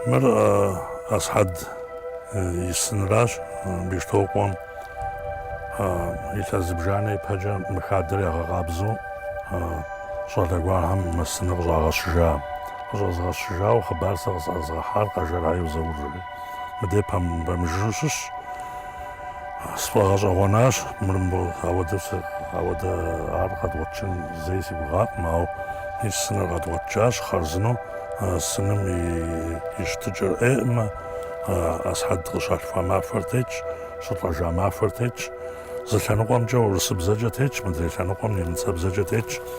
Мыр Асхьэд и сыныращ Бещтокъуэм илъэс зыбжанэ ипэкӏэ мы хадэр ягъэкъабзэу щӏалэ гуэрхэм мы сыныр къыщӏагъэщыжа. Къыщӏэзгъэщыжауэ хъыбар сэ къысӏэзгъэхьар Къэжэрхэ яйуэ Заур жери. Мыдей пэмыжыжу щыщщ. Сфӏэгъэщӏэгъуэнащ мыр ауэдэ ауэдэ ар къэдгъуэтыжын зэи си гугъакъым, ауэ и сыныр къэдгъуэтыжащ хъарзынэу, сыным и щытыкӏэр ӏейкъым, Асхьэд къыщалъхуа махуэр тетщ, щылӏэжа махуэр тетщ, зы лъэныкъуэмкӏэ урысыбзэкӏэ тетщ, мыдрей лъэныкъуэм немыцэбзэкӏэ тетщ.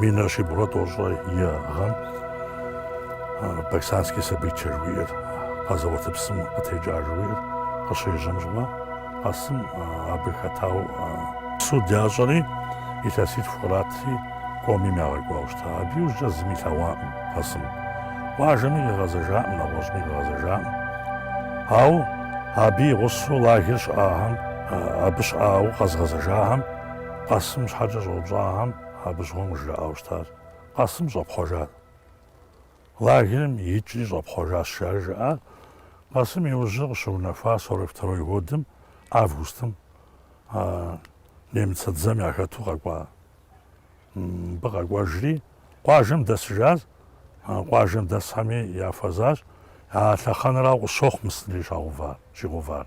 Минрэ щибгъурэ тӏощӏрэ и гъэм Баксанский событие жуиӏэр, къэзэуат псым къытекӏа жуиӏэр къыщежьэм щыгъуэ, Къэсым абы хэтауэ суд ящӏэри, илъэситху къратри Комим ягъэкӏуауэ щыта. Абы иужькӏэ зыми илъэгъуакъым Къэсым. Къуажэми къигъэзэжакъым, нэгъуэщӏми къигъэзэжакъым. Ауэ абы и гъусэу лагер щыӏахэм, Абы щыӏауэ къэзгъэзэжахэм Къэсым щхьэкӏэ щӏэупщӏахэм абы щыгъуэм къыжраӏауэ щытащ. Къэсым щӏэпхъуэжат. Лагерым икӏри щӏэпхъуэжащ, жаӏэри жаӏар. Къэсым и ужьыр къыщыунэхуар сорок второй годым, августым, немыцэ дзэм яхэту къэкӏуа. Мыбы къэкӏуэжри, къуажэм дэсыжащ. Къуажэм дэсхэми яхуэзащ. А лъэхъэнэрау къысщохъу мы сынри щагъэува, щигъэувар.